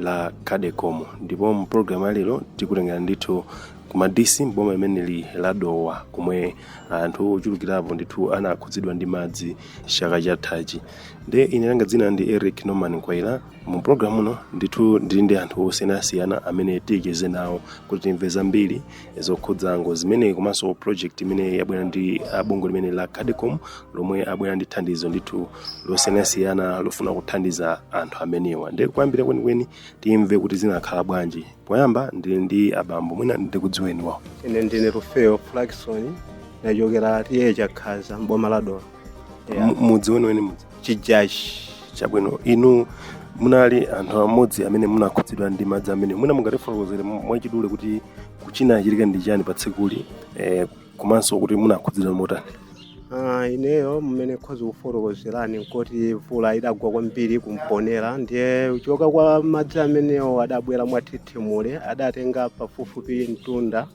la Cadecom ndipo mu program ya lero tikutengera ndithu kuma DC mboma imeneli la Dowa komwe anthu ochulukirapo ndithu anakhudzidwa ndi madzi chaka chathachi nde ine langa dzina ndi Eric Norman Kwaila mu program uno ndithu ndili ndi anthu osiyanasiyana amene ticheze nawo kuti timve zambiri zokhudza ngozi zimenezi komanso project imene yabwera ndi ah, bungwe limeneli la Cadecom lomwe abwera ndi thandizo ndithu losiyanasiyana lofuna kuthandiza anthu amenewa nde kuyambira kwenikweni timve kuti zinakhala bwanji poyamba ndili ndi abambo mwina ndikudziweni wawo ine ndine Rufeo Flakisoni nachokera T/A Chakhaza mboma la Dowa Mu- mudzi weniweni mudzi Chijachi chabwino inu munali anthu amodzi amene munakhudzidwa ndi madzi amenewa mwina mungatifotokozere mwachidule kuti chinachitika ndi chani pa tsikuli eh, komanso kuti munakhudzidwa motani Ah, ineyo mmene nkhoza kufotokozerani nkoti mvula idagwa kwambiri ku Mponela ndiye kuchoka kwa madzi amenewo adabwera mwathithimule adatenga pafupifupi mtunda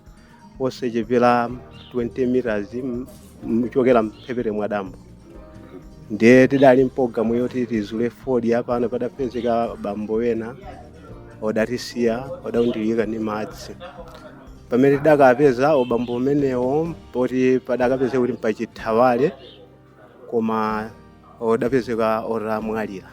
osachepera 20 meters m- m- kuchokera mphepete mwa dambo ndiye tidali mpologalamu yoti tizule fodya apano padapezeka bambo wena odatisiya odaundirika ndi madzi pamene tidakapeza obambo omenewo poti padakapezeka kuti mpachithawale koma odapezeka otamwalira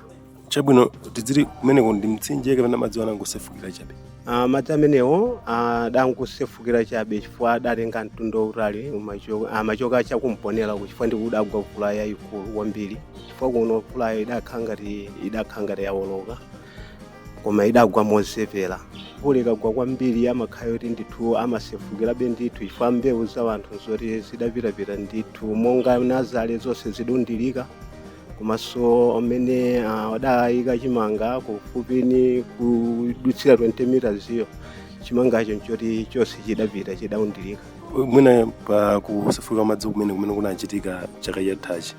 chabwino tidzili kumeneko ndi mtsinje kapena madzi anangosefukira chabe Ah, madzi amenewo adangosefukira chabe chifukwa adatenga mtunda wautali umacho- amachoka cha ku Mponela uku chifukwa ndiko kudagwa mvula yayikulu kwambiri chifukwa kuno mvulayo idakhala ngati idakhala ngati yawoloka koma idagwa mochepera mvula ikagwa kwambiri amakhala oti ndithu amasefukirabe ndithu chifukwa mbewu za wanthu nzoti zidapitapita ndithu monga nazale zonse zidaundilika komanso amene ah, adayika chimanga kufupi ni kudutsira 20 meters iyo chimangacho nchoti chonse chidapita chidaundilika mwina pa kusefukira madzi kumene kumene kunachitika chaka chathachi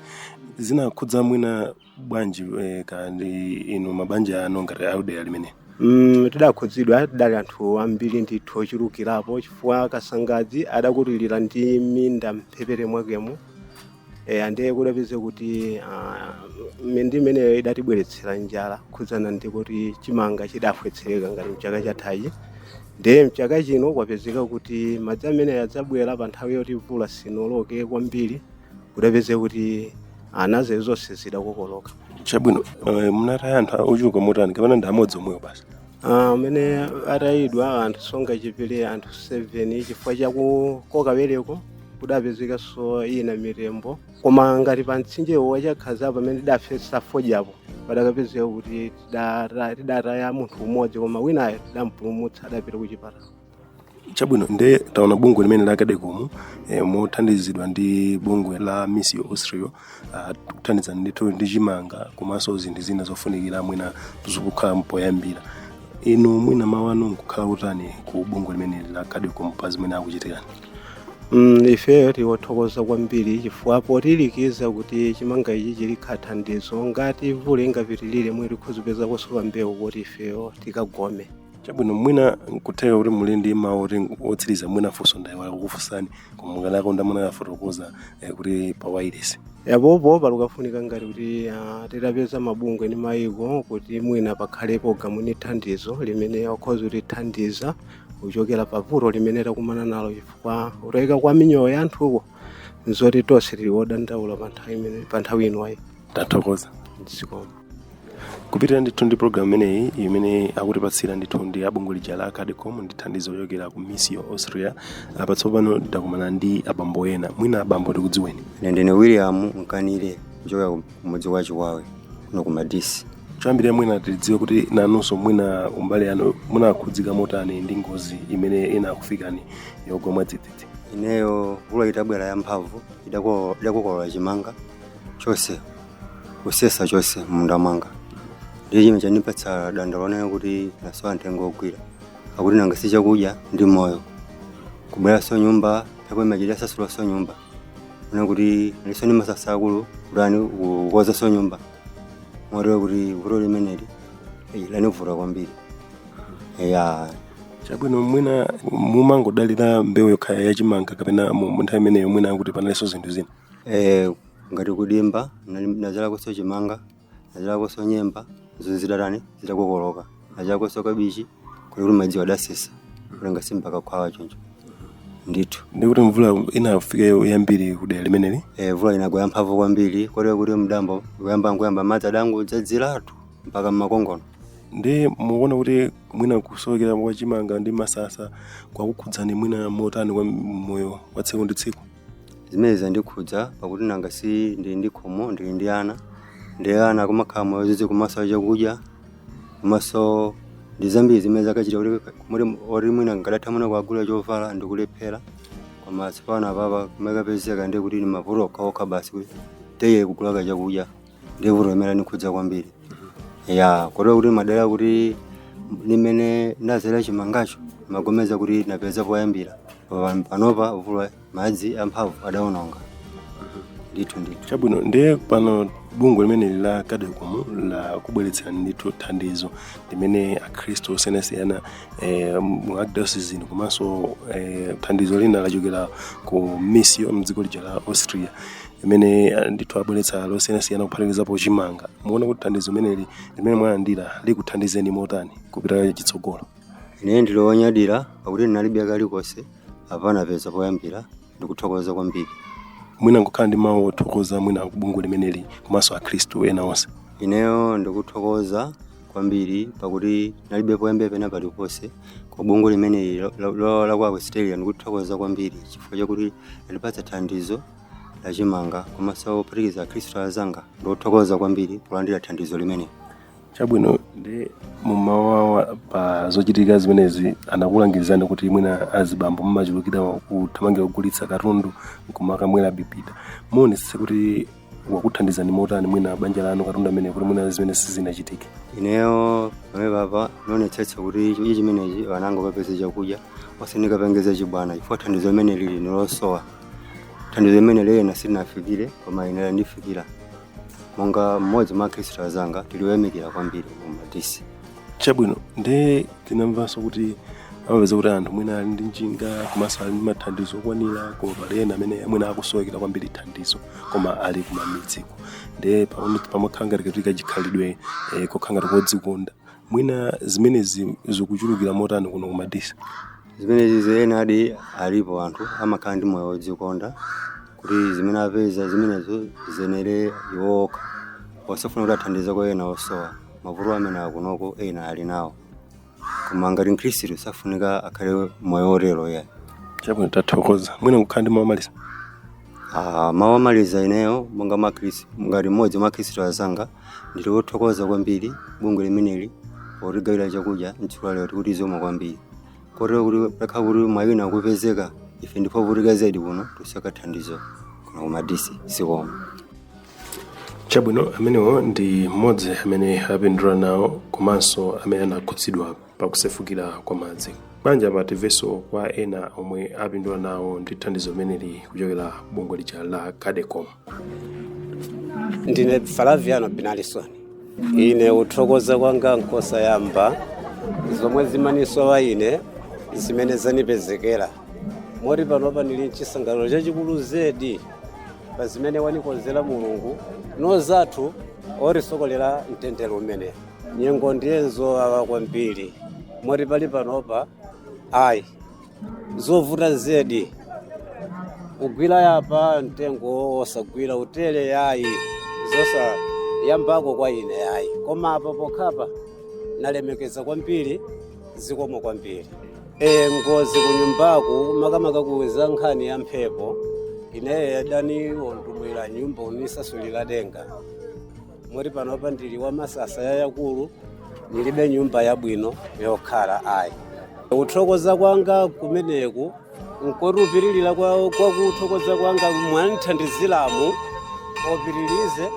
zinakhudza mwina bwanji eh, ka ndi inu mabanja anu ngati a m'dera limeneli Mm, tidakhudzidwa tidali anthu ambiri ndithu ochulukirapo chifukwa Kasangadzi adakutiliridwa ndi minda mphepete mwakemo e, andiye kudapezeka kuti ah, minda imeneyo idatibweretsera njala khudzana ndi kuti chimanga chidafafwetsereka ngati mchaka chathachi ndiye mchaka chino kwapezeka kuti madzi ameneyo adzabwera pa nthawi yoti mvula sinoloke kwambiri kudapezeka kuti nazale zonse zidakokoloka chabwino eh, munataya anthu ochuluka motani kapena ndi amodzi omwewo basi Ah, amene atayidwa anthu songa chipili anthu 7 chifukwa chakukoka bereko kudapezekanso ina mitembo koma ngati pa mtsinjewo wachakhazapo pamene tidafesa fodyapo padakapezeka kuti tidata- tidataya munthu umodzi koma winayo tidampulumutsa adapita ku chipatala chabwino nde taona bungwe limene la cadecom eh, mothandizidwa ndi bungwe la misio austria uh, kuthandiza ndithu ndi chimanga komanso zinthu zina zofunikira mwina zikukhala mpoyambira inu mwina mawu anu nkukhala otani ku bungwe limene la cadecom pa zimene akuchitirani Mm, ifeyo tikuthokoza kwambiri chifukwa potilikiza kuti chimanga ichi chili thandizo ngati mvula ingapitirire mwe tikhoza kupeza kosowa mbewu kuti ifeyo tikagome chabwino mwina nkutheka kuti muli ndi mawu oti otsiriza mwina funso ndayiwala kukufunsani koma mukanakonda mutafotokoza eh, kuti pa wailesi ya pompano pakufunika ngati kuti ah, titapeza mabungwe ndi mayiko kuti mwina pakhalepo gamu ndi thandizo limene akhoza kutithandiza kuchokera pa vuto limene takumana nalo chifukwa kutayika kwa miyoyo ya anthuko nzoti tonse tili wodandaula pa nthawi imene- pa nthawi inoyi tathokoza zikomo kupitira ndithu ndi programu imeneyi imene akutipatsira ndithu ndi abungwe lija la cadecom ndi thandizo lochokera ku misio austria apa tsopano ndakumana ndi abambo ena mwina abambo tikudziweni ine ndine william mkanire kuchokera ku mudzi wa chiwawe kuno ku madisi choyambirira mwina tidziwe kuti nanunso mwina kumbali yanu munakhudzika motani ndi ngozi imene inakufikani yogwa mwadzidzidzi ineyo mvula itabwera yamphamvu idako- idakokolola chimanga chonse kusesa chonse m'munda mwanga ndiye chimene chandipatsa dandaulo ineyo kuti nasowa mtengo wogwira pakuti nanga si chakudya ndi moyo kubweranso nyumba mphepo imachita kusasulanso nyumba ona kuti ndisowe ndi msasa wakuti kutani kukozanso nyumba motero kuti vuto limeneli eh, lanivuta kwambiri ya chabwino mwina mumangodalira mbewu yokha yachimanga kapena mu mu nthawi imeneyo mwina kuti panalinso zinthu zina eh, ngati kudimba nali- nazalakonso chimanga nazalakonso nyemba zinthu zidatani zidakokoloka nazalakonso kabichi kuli kuti madzi adasesa kulenga simpaka khwawa choncho ndithu ndikuti mvula inafika yambiri kudera limeneli e, mvula inagwa yamphamvu kwambiri kotero kuti mdambo kuyamba nkuyamba madzi adangodzadziratu mpaka mmakongono ndi mukuona kuti mwina kusowekera kwa chimanga ndi msasa kwakukhudzani mwina motani kwa moyo wa tsiku ndi tsiku zimene zandikhudza pakuti nanga si ndili ndi khomo ndili ndi ana ndi ana kumakhala moyo zizi kumasowa chakudya komanso ndi zambiri zimene zakachita kuti kuti- kuti mwina ngadatha mwina kukagula chovala ndikulephera koma tsopano apapa kumakapezeka ndi kuti ni mavuto okhaokha basi kuti teye kugulako chakudya ndi vuto limene lanikhudza kwambiri ya kotero kuti madera kuti limene ndazera chimangacho magomeza kuti napeza poyambira Pa- panopa vuto madzi amphamvu adaononga ndithu ndithu chabwino ndiye pano bungwe limeneli la Cadecom lakubweretserani ndithu thandizo limene akhristu osiyanasiyana eh, mu archdiocese ino komanso eh, thandizo lina lachokera ku Missio mdziko lija la Austria limene eh, ndithu abweretsa losiyanasiyana kuphatikizapo chimanga muona kuti thandizo limeneli limene mwalandira likuthandizeni motani kupita chitsogolo ine ndili wonyadira pakuti ndinalibe kalikonse apa napeza poyambira ndikuthokoza kwambiri mwina mungokhala ndi mawu othokoza mwina kubungwe limeneli komanso akhristu ena onse ineyo ndikuthokoza kwambiri pakuti nalibe poyambira pena paliponse kubungwe limeneli la- la- la- la ku australia ndikuthokoza kwambiri chifukwa chakuti landipatsa thandizo lachimanga komanso pophatikiza akhristu azanga ndikuthokoza kwambiri polandira thandizo limeneli chabwino nde mumawu awo pa zochitika zimenezi anakulangizani kuti mwina azibambo mmachulukira kuthamangira kugulitsa katundu nkumakamwera bibida muonetsetsa kuti wakuthandizani motani mwina banja lanu katundu ameneyu kuti mwina zimenezi zisachitike ineyo pamenepapa ndionetsetsa kuti chakudya chimenechi ana anga apeze chakudya osati kupangitsa chibwana chifukwa thandizo limeneli nilosowa thandizo limeneli ena silinawafikire koma ine landifikira monga mmodzi mwa akhristu azanga tiliyamikira kwambiri kuno ku Madisi chabwino nde tinamvanso kuti amapeza kuti anthu mwina ali ndi njinga komanso ali ndi mathandizo okwanira koma pali ena amene mwina akusowekera kwambiri thandizo koma ali kumamidziko nde pamene- pamakhala ngati kati kachikhalidwe eh, kokhala ngati kodzikonda mwina zimenezi zikuchulukira motani kuno ku Madisi zimenezi enadi alipo anthu amakhala ndi moyo wodzikonda kuti zimene apeza zimenezo ziyenere iwo okha osafuna kuti athandize kwa ena osowa mavuto amene akunoko ena ali nawo koma ngati mkhristu safunika akhale moyo wotero yayi chabwino tathokoza mwina kukhala ndi mawu omaliza Ah, mawu omaliza ineyo monga mwa Khristu- ngati mmodzi mwa akhristu azanga ndili wothokoza kwambiri bungwe limeneli potigawira chakudya mtsiku la lero tikuti zikomo kwambiri kotero kuti pakhala kuti mwayi wina wapezeka ife ndife ovutika zedi kuno tikusowa thandizo kuno ku Madisi zikomo chabwino amenewo ndi mmodzi amene apindula nawo komanso amene anakhudzidwa pakusefukira kwa madzi banja pa timvenso kwa ena omwe apindula nawo ndi thandizo limeneli kuchokera bungwe lija la cadecom ndine flaviano binalisoni ine uthokoza kwanga nkosayamba zomwe zimanisowa ine zimene zanipezekera moti panopa ndili mchisangalalo chachikulu zedi pa zimene wanikonzera mulungu nanzathu otisokolera mtendere umene nyengo ndiye nzowawa kwambiri moti pali panopa ayi zovuta zedi kugwira apa mtengo wosagwira utele yayi zosayambako kwa ine yayi koma apa pokhapa nalemekeza kwambiri zikomo kwambiri e ngozi kunyumbaku makamaka kukhudza nkhani ya mphepo ineyo idaniwonongera nyumba kunisasulira denga moti panopa ndili pa masasa yayakulu nilibe nyumba yabwino yokhala ayi kuthokoza kwanga kumeneku nkoti upitilire kwa kwa kuthokoza kwanga mwanithandiziramu opitilize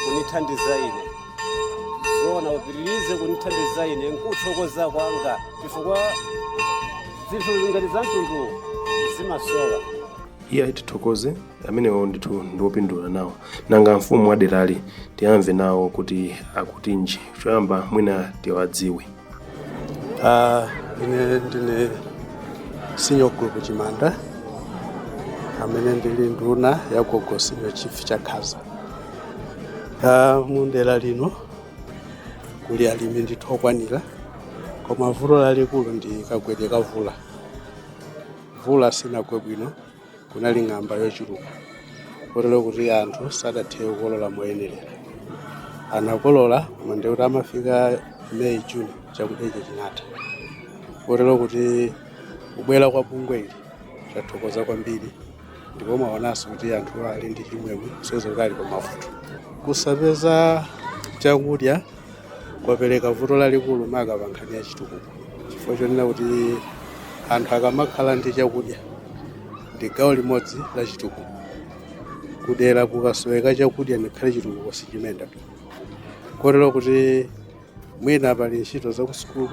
kunithandiza ine zona upitilize kunithandiza ine nkuthokoza kwanga chifukwa zinthu ngati za mtundu zimasowa iye tithokoze amenewo ndithu ndiwopindula nawo nanga mfumu wa derali tiyamve nawo kuti akutinji choyamba mwina tiwadziwe Ah, ine ndine senior group chimanda amene ndili nduna ya gogo senior chief chakhaza Ah, mu dera lino kuli alimi ndithu okwanira koma vuto lalikulu ndi kagwedwe ka mvula mvula sinagwe bwino kunali ng'amba yochuluka kotero kuti anthu sadathe kukolola moyenerera anakolola koma ndikuti amafika may june chakudya icho chinatha kotero kuti kubwera kwa bungweli tathokoza kwambiri ndipo mwaonanso kuti anthu ali ndi chimwemwe kusonyeza kuti ali pamavuto kusapeza chakudya kwapereka vuto lalikulu maka pa nkhani ya chitukuko chifukwa chonena kuti anthu akamakhala ndi chakudya ndi gawo limodzi la chitukuko kudera kukasoweka chakudya ngakhale chitukuko sichimayenda kotero kuti mwina pali ntchito zakusukulu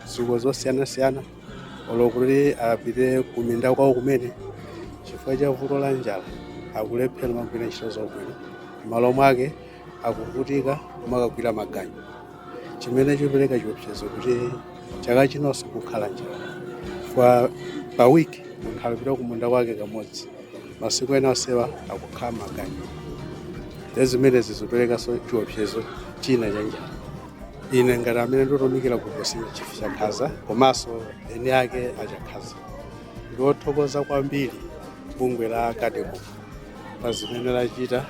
zitukuko zosiyanasiyana olo kuti apite kuminda kwawo kumene chifukwa cha vuto la njala akulephera kumagwira ntchito zakumunda m'malo mwake akuvutika kumakagwira maganyu chimene chopereka chiopsezo kuti chaka chinonso kukhala njala pa wiki munthu alipita kumunda kwake kamodzi masiku ena onsewa akukhala maganyu nde zimenezi zoperekanso chiopsezo china cha njala ine ngati amene ndikutumikira gogo senior chief chakhaza komanso eni ake achakhaza ndiwothokoza kwambiri bungwe la cadecom pa zimene lachita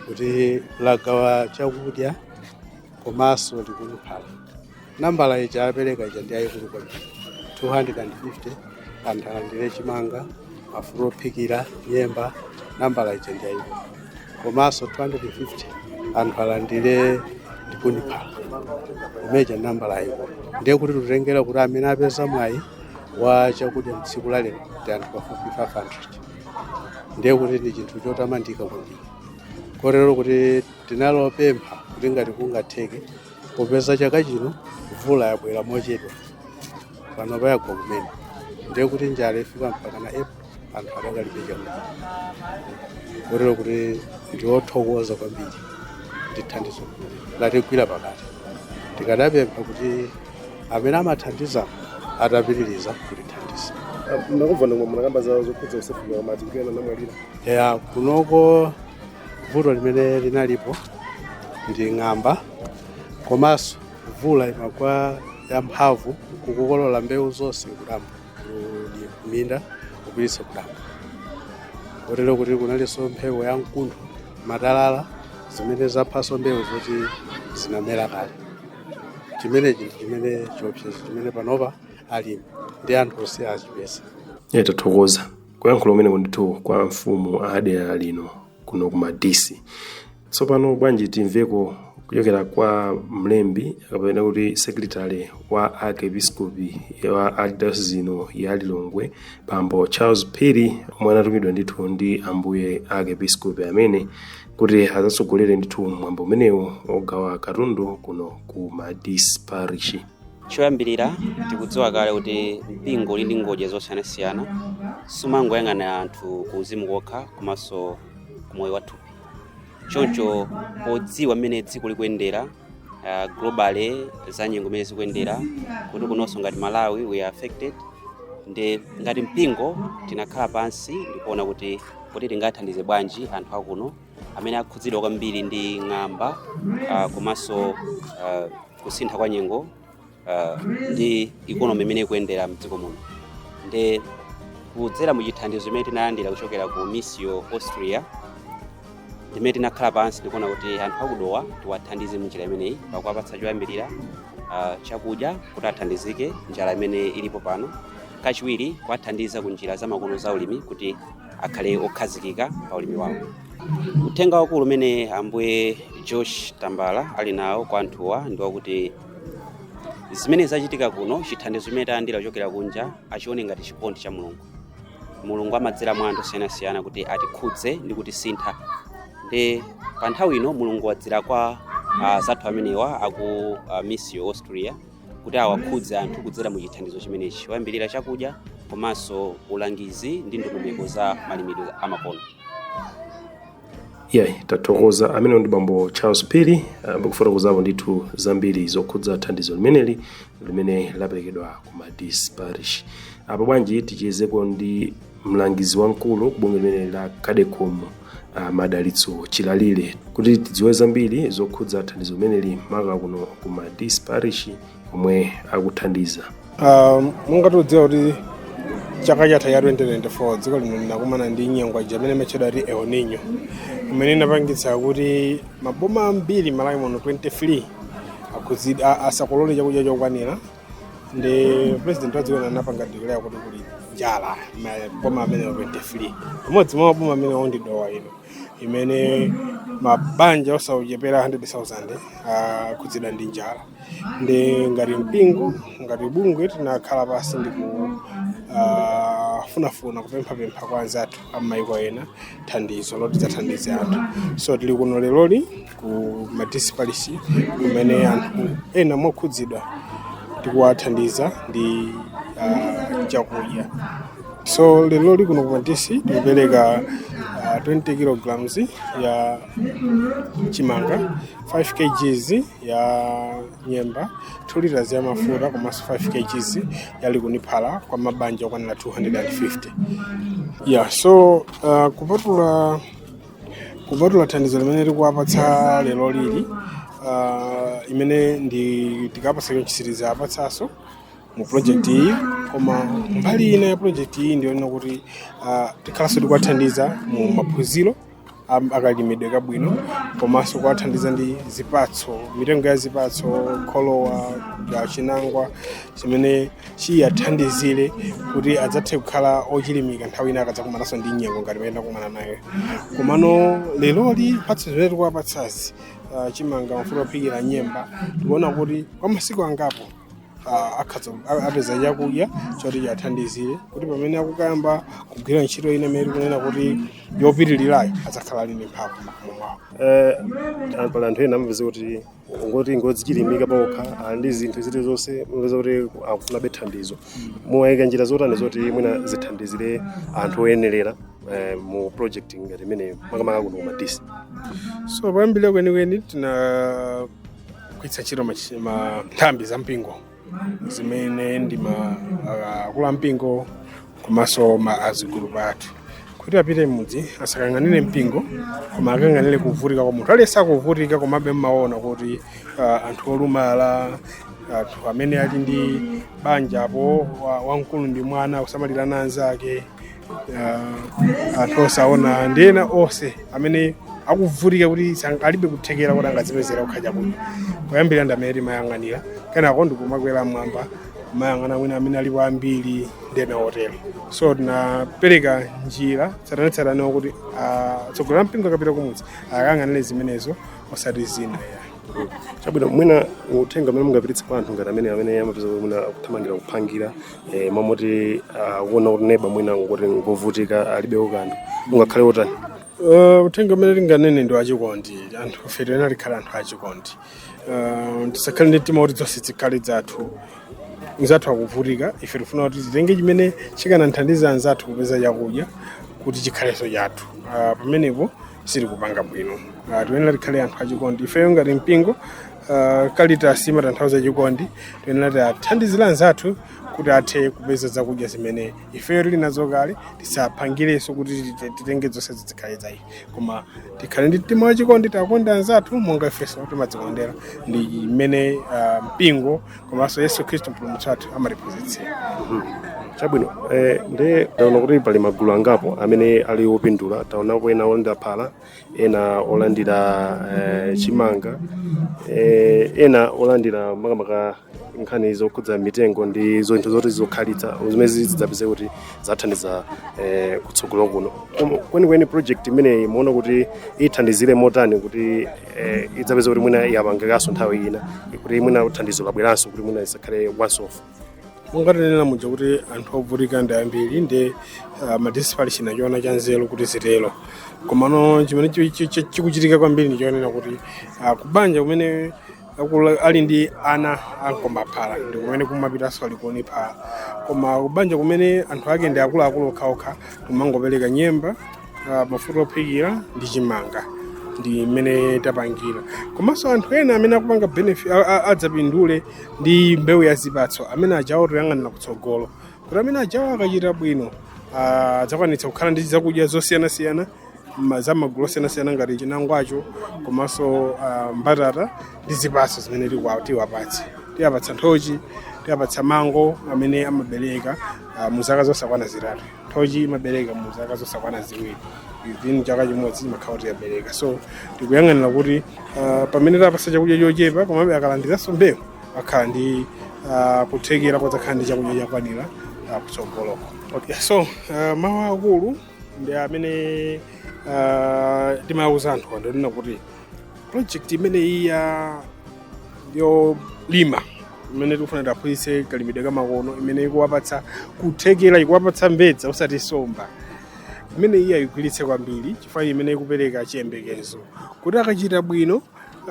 kuti lagawa chakudya komanso likuniphala nambala ija apereka ija ndi yayikulu kwambiri 250 anthu alandire chimanga mafuta ophikira nyemba nambala ija ndi yayikulu komanso 250 anthu alandire likuniphala imeja nambala yayikulu ndiye kuti tutengera kuti amene apeza mwayi wa chakudya mtsiku la lero ndi anthu pafupi 500 ndiye kuti ndi chinthu chotamandika kwambiri kotero kuti tinalopempha kuti ngati kungatheke popeza chaka chino mvula yabwera mochedwa pano payagwa kumene ndiye kuti njala ifika mpaka na april anthu adakalibe chakudya kotero kuti ndiwothokoza kwambiri ndi thandizo latigwira pakati tikadapempha kuti amene amathandiza atapitiriza kutithandiza nakumva momwe munakamba za zokhudza kusefukira kwa madzi kuti ena anamwalira ya kunoko vuto limene linalipo ndi ng'amba komanso mvula imagwa yamphamvu kukokolola mbewu zonse kudambo ndi kuminda kupititsa kudambo kotero kuti kunalinso mphepo ya mkuntho matalala zimene zaphanso mbewu zoti zinamera kale chimenechi ndi chimene chiopsezo chimene panopa alimi ndi anthu onse achipeza ine tathokoza kuyankhula kumeneku ndithu kwa amfumu a dera lino kuno ku madisi tsopano bwanji timveko kuchokera kwa mlembi kapena kuti secretary wa arkepiskopi wa archdiocese ino ya lilongwe bambo charles phiri omwe anatumidwa ndithu ndi ambuye arkepiskopi amene kuti adzatsogolere ndithu mwambo umenewu ogawa katundu kuno ku madisi parish choyambirira tikudziwa kale kuti mpingo uli ndi ngodya zosiyanasiyana sumangoyang'ana anthu ku uzimu kokha komanso ku moyo wathupi choncho podziwa mmene dziko likuyendera uh, globally za nyengo mmene zikuyendera kuti kunonso ngati malawi we are affected ndi ngati mpingo tinakhala pansi ndikuona kuti kuti tingathandize bwanji anthu akuno amene akhudzidwa kwambiri ndi ng'amba ah, komanso ah, kusintha kwa nyengo ah, ndi ikonomi imene ikuyendera mdziko muno ndi kudzera mu chithandizo chimene tinalandira kuchokera ku Missio Austria ndimene tinakhala pansi ndikuona kuti anthu a ku Dowa tiwathandize munjira imeneyi pakuwapatsa choyambirira ah, chakudya kuti athandizike njala imene ilipo pano kachiwiri kuwathandiza ku njira zamakono za ulimi kuti akhale okhazikika pa ulimi wawo. Uthenga wakulu umene Ambuye George Tambala ali nawo kwa anthuwa ndi wakuti zimene zachitika kuno, chithandizo chimene talandira kuchokera kunja achione ngati chikondi cha Mulungu. Mulungu amadzera mwa anthu osiyanasiyana kuti atikhudze ndi kutisintha. Ndi pa nthawi ino Mulungu wadzera kwa ah, anzathu amenewa aku ah, Missio Austria kuti awakhudze anthu kudzera mu chithandizo chimenechi choyambirira chakudya komanso ulangizi ndi ndondomeko za malimidwe amakono iyayi, tathokoza amenewo ndi bambo Charles Phiri kufotokozapo ndithu zambiri zokhudza thandizo limeneli limene laperekedwa ku Madisi Parish apo bwanji tichezeko ndi mlangizi wamkulu ku bungwe limeneli la cadecom a madalitso chilalire kuti tidziwe zambiri zokhudza thandizo limeneli maka kuno ku Madisi Parish komwe akuthandiza Ah, monga tikudziwa kuti chaka chatha cha 2024 dziko lino linakumana ndi nyengo ija imene imatchedwa kuti el nino imene inapangitsa kuti maboma ambiri malawi muno 23 akhudzidwa asakolole chakudya chokwanira ndi president wa dziko lino anapanga declare kuti kuli njala maboma amenewa 23 pamodzi mwa maboma amenewo ndi Dowa ino imene mabanja osachepera 100,000 akhudzidwa ndi njala ndi ngati mpingo ngati bungwe tinakhala pansi ndi kufunafuna kupemphapempha kwa anzathu am'mayiko ena thandizo loti tidzathandize anthu so tili kuno leroli ku Madisi Parish kumene anthu ena mokhudzidwa tikuwathandiza ndi uh, chakudya so leroli kuno ku madisi tikupereka uh, 20 kilograms ya chimanga 5 kgs ya nyemba 2 liters ya mafuta komanso 5 kgs ya likuni phala kwa mabanja okwanira 250 yeah so uh, kupatula kupatula thandizo limene tikuwapatsa leroli uh, imene ndi tikawapatsa chonchi sitidzawapatsanso mu project iyi koma mbali ina ya project iyi ndiyonena kuti uh, tikhalanso tikuwathandiza mu maphunziro am- akalimidwe kabwino komanso kuwathandiza ndi zipatso mitengo ya zipatso kholowa wa chinangwa chimene chiwathandizire kuti adzathe kukhala ochilimika nthawi ina akadzakumananso ndi nyengo ngati imene takumana nayo komano leroli mphatso zimene tikuwapatsazi ah, chimanga mafuta ophikira nyemba tikuona kuti kwa masiku angapo ah, akhaza- a- apeza chakudya choti chiwathandizire kuti pamene akukayamba kugwira ntchito ina imene tikunena kuti yopitirirayo adzakhala ali ndi mphamvu mwawo Eh, pali anthu ena amapeza kuti ngoti ngodzichilimika okha ali ndi zinthu zilizonse mmapeza kuti akufunabe thandizo muwayika njira zotani zoti mwina zithandizire anthu oyenerera eh, mu project ngati imeneyo makamaka kuno ku Madisi so poyambira kwenikweni tinagwiritsa ntchito machi- ma- nthambi za mpingo zimene ndi ma ah, akulu ampingo komanso ma azigulupu athu kuti apite m'mudzi asakayang'anire mpingo koma akayang'anire kuvutika kwa munthu aliyense akuvutika komabe mmaona kuti ah, anthu olumala anthu amene ali ndi banja apo wa- wamkulu ndi mwana kusamalirana anzake uh, anthu osaona ndi ena onse amene akuvutika kuti sang- alibe kuthekera kuti angadzipezere chakudya koyambirira ndi amene timayang'anira kenako ndikumakwera mmwamba kuyang'ana mwina amene alipo ambiri ndi ena otero so tinapereka njira tsatanetsatane kuti uh, mtsogoleri wa mpingo akapita kumudzi akayang'anire zimenezo osati zina chabwino mwina uthenga umene mungapititse kwa anthu ngati amene amene amapeza kuti mwina akuthamangira kuphangira e, momoti akuona kuti neba mwina ngoti ngovutika alibe kanthu ungakhale wotani Uh, uthenga umene tinganene ndi wachikondi anthu ife tiyenera tikhale anthu achikondi uh, tisakhale ndi mtima kuti zonse zikhale zathu mzathu akuvutika ife tifuna kuti titenge chimene chikanathandiza anzathu kupeza chakudya kuti chikhalenso chathu uh, pamenepo sitikupanga bwino uh, tiyenera tikhale anthu achikondi ifeyo ngati mpingo Uh, Caritas imatanthauza chikondi tiyenera tiwathandizire anzathu kuti athe kupeza zakudya zimene ifeyo tili nazo kale tisaphangirenso kuti tite- titenge zonse zikhale za ife koma tikhale ndi mtima wachikondi tiwakonde anzathu monga ifenso timadzikondera ndi mmene uh, mpingo komanso yesu khristu mpulumutsi wathu amatiphunzitsira chabwino eh, ndiye taona kuti pali magulu angapo amene ali opindula taonapo ena olandira phala ena olandira eh, chimanga eh, ena olandira makamaka nkhani zokhudza mitengo ndi zinthu zoti zokhalitsa zimene zidzapeze kuti zathandiza eh, kutsogolo kuno Koma kwenikweni project imeneyi muona kuti ithandizire motani kuti eh, idzapeze kuti mwina yapangikanso nthawi ina kuti mwina thandizo labweranso kuti mwina isakhale once off monga tinena muja kuti anthu ovutika ndi ambiri ndi uh, Madisi parish inachiona cha nzeru kuti zitero komano chimene chi- chi- chi- chikuchitika kwambiri ndi chonena kuti uh, kubanja kumene akula- ali ndi ana onkomba phala ndi kumene kumapitanso likuni phala koma kubanja kumene anthu ake ndi akuluakulu okhaokha kumangopereka nyemba ah, mafuta ophikira ndi chimanga ndi mmene tapangira komanso anthu ena amene akupanga benefit a- a- adzapindule ndi mbewu ya zipatso amene ajawo toyang'anira kutsogolo kuti amene ajawo akachita bwino ah, adzakwanitsa kukhala ndi zakudya zosiyanasiyana ma- za magulu osiyanasiyana ngati chinangwacho komanso ah, mbatata ndi zipatso zimene tikwa- tiwapatse tiwapatsa nthochi tiwapatsa mango amene amabereka ah, mu zaka zosakwana zitatu nthochi imabereka mu zaka zosakwana ziwiri within chaka chimodzi imakhala kuti yabereka so tikuyang'anira kuti ah, pamene tapasa chakudya chochepa komabe akalandiranso mbewu akhala ndi ah, kuthekera kodzakhala ndi chakudya chokwanira ah, kutsogoloko okay. so ah, mawu akulu ndi amene ah, timawuza anthu ndi onena kuti project imeneyi ya yolima imene tikufuna tiaphunzitse kalimidwe kamakono imene ikuwapatsa kuthekera ikuwapatsa mbedza osati nsomba imeneyi aigwiritse kwambiri chifukwa imene ikupereka chiyembekezo kuti akachita bwino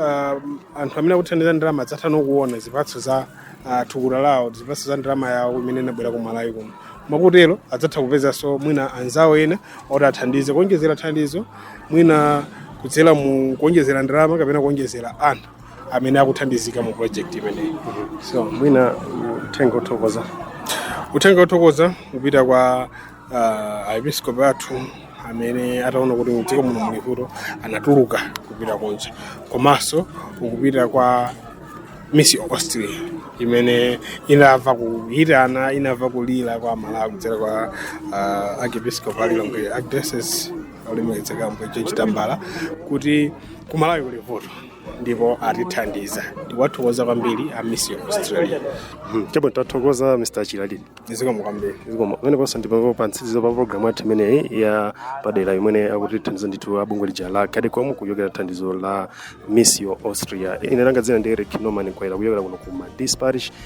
ah, anthu amene akuthandiza ndalama adzatha nokuona zipatso za ah, thukuta lawo zipatso za ndalama yawo imene inabwera ku malawi kuno mwakutero adzatha kupezanso mwina anzawo ena oti athandize kuonjezera thandizo mwina kudzera mu kuonjezera ndalama kapena kuonjezera anthu amene akuthandizika mu project imeneyi so mwina uthenga othokoza uthenga othokoza kupita kwa uh, aepiskopi athu amene ataona kuti mdziko muno muli vuto anatuluka kupita kunja komanso ukupita kwa Missio Austria imene inamva kuyitana inamva kulira kwa amalawi kudzera kwa uh, archiepiscopi a Lilongwe archdiocese olemekedzeka ambuye George Tambala kuti kumalawi kuli vuto ndipo atithandiza tiwathokoza kwambiri a Missio Australia chabwino tathokoza mr chilalili zikomo kwambiri zikomo pamenepo ndi pamtsiriziro pa programu yathu imeneyi ya padera imene akutithandiza ndithu abungwe lija la cadecom kuchokera thandizo la missio austria ine langa dzina ndi eric norman kwaira kuchokera kuno ku Madisi parish